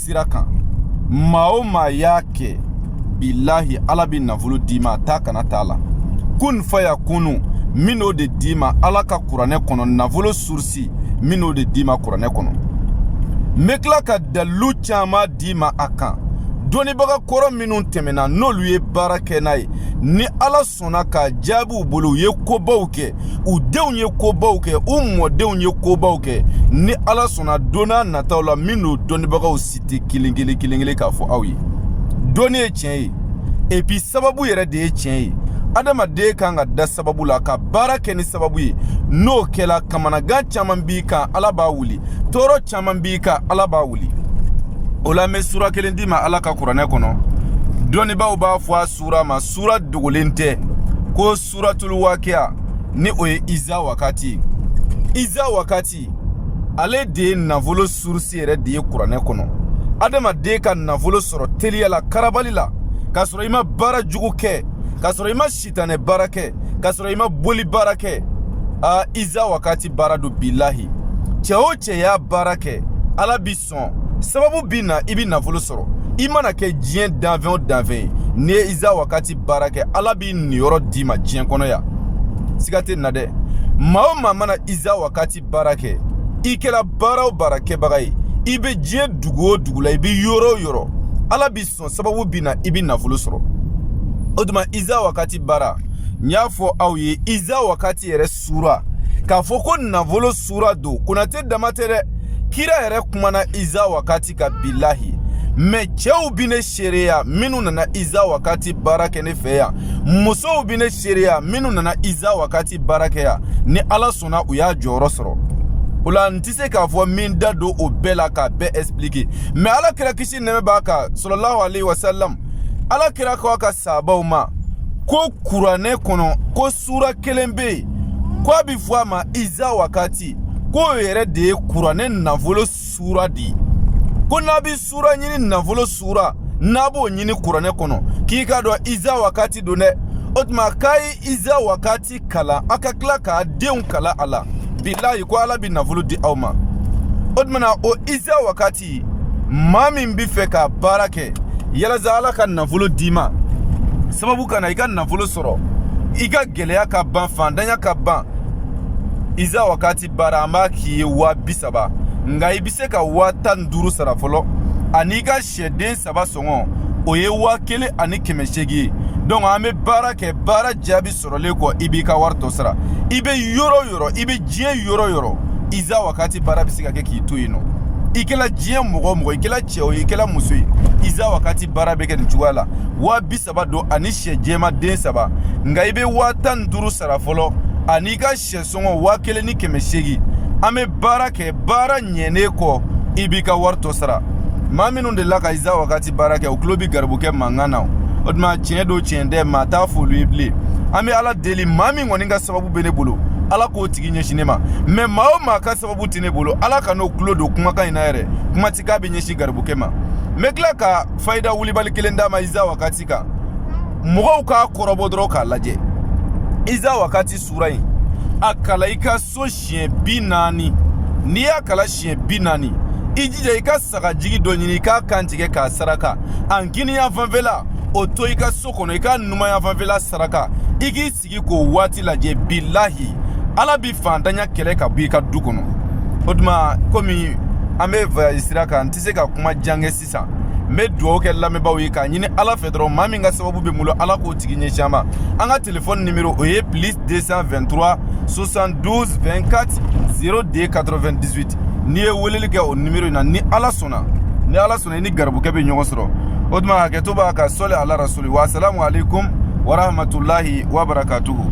sira kan maa o maa y'a kɛ bilahi ala bɛ nafolo d'i ma a t'a kana t'a la kun fa ya kunu n bɛn'o de d'i ma ala ka kuranɛ kɔnɔ nafolo surusi n bɛn'o de d'i ma kuranɛ kɔnɔ n bɛ tila ka dalilu caman d'i ma a kan dɔnnibaga kɔrɔ minnu tɛmɛna n'olu ye baara kɛ n'a ye ni ala sɔnna k'a jaabi u bolo u ye kobaw kɛ u denw ye kobaw kɛ u mɔdenw ye kobaw kɛ ni ala sɔnna donna nataw la n bɛn'o dɔnnibagaw citer kelen kelen kelen kelen k'a fɔ aw ye dɔnni ye tiɲɛ ye epi sababu yɛrɛ de ye tiɲɛ ye adamaden kan ka da sababu la ka baara kɛ ni sababu ye n'o kɛla kamanagan caman b'i kan ala b'a wuli tɔɔrɔ caman b'i kan ala b'a wuli o la n bɛ sura kelen d'i ma ala ka kuranɛ kɔnɔ dɔnnibaaw b'a fɔ a sura ma sura dogolen tɛ ko suratul wakiya ni o ye iza wakati ye iza wakati ale de ye nafolo surusi yɛrɛ de ye kuranɛ kɔnɔ adamaden ka nafolo sɔrɔ teliya la karabali la k'a sɔrɔ i ma baara jugu kɛ k'a sɔrɔ i ma sitanɛ baara kɛ k'a sɔrɔ i ma boli baara kɛ a iza wakati baara don bilahi cɛ o cɛ y'a baara kɛ ala b'i sɔn sababu bi na i bi nafolo sɔrɔ i mana kɛ diɲɛ danfɛn o danfɛn ye n'i ye iza wakati baara kɛ ala b'i niyɔrɔ d'i ma diɲɛ kɔnɔ yan siga tɛ n na dɛ maa o maa mana iza wakati baara kɛ i kɛra baara o baara kɛbaga ye i bɛ diɲɛ dugu o dugu la i bɛ yɔrɔ o yɔrɔ ala b'i sɔn sababu bi na i bɛ nafolo sɔrɔ o tuma iza wakati baara n y'a fɔ aw ye iza wakati yɛrɛ sura k'a fɔ ko nafolo sura don konate dama tɛ dɛ kira yɛrɛ kumana iza wakati kan bilahi mɛ cɛw bi ne seereya minnu nana iza wakati baara kɛ ne fɛ yan musow bi ne seereya minnu nana iza wakati baara kɛ yan ni ala sɔnna u y'a jɔyɔrɔ sɔrɔ o la n tɛ se k'a fɔ n bɛ n da don o bɛɛ la k'a bɛɛ expliquer mɛ ala kira kisi nɛɛma b'a kan sɔlɔlahu alehi wasalam ala kira k'a ka saabaw ma ko kuranɛ kɔnɔ ko Sura kelen bɛ yen ko a bɛ fɔ a ma iza wakati k'o yɛrɛ de ye kuranɛ nafolo sura de ye ko n'a bɛ sura ɲini nafolo sura n'a b'o ɲini kuranɛ kɔnɔ k'i k'a dɔn iza wakati don dɛ o tuma k'a ye iza wakati kalan a ka tila k'a denw kalan a la bilayi ko ala bɛ nafolo di aw ma o tuma na o iza wakati ti maa min bɛ fɛ ka baara kɛ yalasa ala ka nafolo d'i ma sababu ka na i ka nafolo sɔrɔ i ka gɛlɛya ka ban fandanya ka ban iza wakati baara an b'a k'i ye waa bi saba nka i bɛ se ka waa tan ni duuru sara fɔlɔ an'i ka sɛden saba sɔngɔ o ye waa kelen ani kɛmɛ seegin ye donc an bɛ baara kɛ baara jaabi sɔrɔlen kɔ i b'i ka wari tɔ sara i bɛ yɔrɔ o yɔrɔ i bɛ diɲɛ yɔrɔ o yɔrɔ iza wakati baara bɛ se ka kɛ k'i to yen nɔ i kɛla diɲɛ mɔgɔ o mɔgɔ i kɛla cɛ o ye i kɛla muso ye iza wakati baara bɛ kɛ nin cogoya la waa bi saba don ani syɛ jɛman den saba nka i bɛ waa tan ni duuru sara fɔlɔ ani ka syɛ sɔngɔ waa kelen ni kɛmɛ seegin an bɛ baara kɛ baara ɲɛnen kɔ i b'i ka wari tɔ sara maa minnu delila ka iza wakati baara kɛ u tulo bi garibukɛ mankan na o tuma tiɲɛ don tiɲɛ tɛ maa t'a f'olu ye bilen an bɛ ala deli maa min kɔni ka sababu bɛ ne bolo ala k'o tigi ɲɛsin ne ma mɛ maa o maa ka sababu tɛ ne bolo ala kan'o tulo don kumakan in na yɛrɛ kuma ti k'a bɛ ɲɛsin garibukɛ ma n bɛ tila ka fayida wulibali kelen d'a ma iza wakati kan mɔgɔw k'a kɔrɔbɔ dɔrɔn k'a lajɛ iza wakati sura in a kalan i ka so siɲɛ bi naani n'i y'a kalan siɲɛ bi naani i jija i ka sagajigi dɔ ɲini i k'a kantigɛ k'a saraka a kininyanfan fɛla o to i ka so kɔnɔ i k'a numanyanfan fɛla saraka i k'i sigi k'o waati lajɛ bilahi ala bi fantanya kɛlɛ ka bɔ i ka du kɔnɔ o tuma komi an bɛ voyage sira kan n tɛ se ka kuma jan kɛ sisan n bɛ dugawu kɛ lamɛnbaaw ye k'a ɲini ala fɛ dɔrɔn maa min ka sababu bɛ n bolo ala k'o tigi ɲɛsin an ma an ka telefɔni nimero o ye plus 223 72 24 02 98 n'i ye weleli kɛ o nimero in na ni ala sɔnna ni ala sɔnna i ni garibukɛ bɛ ɲɔgɔn sɔrɔ o tuma hakɛto b'a kan sɔli ala rasuli wasalamu aleykum warahmatulahi wabarakatuhu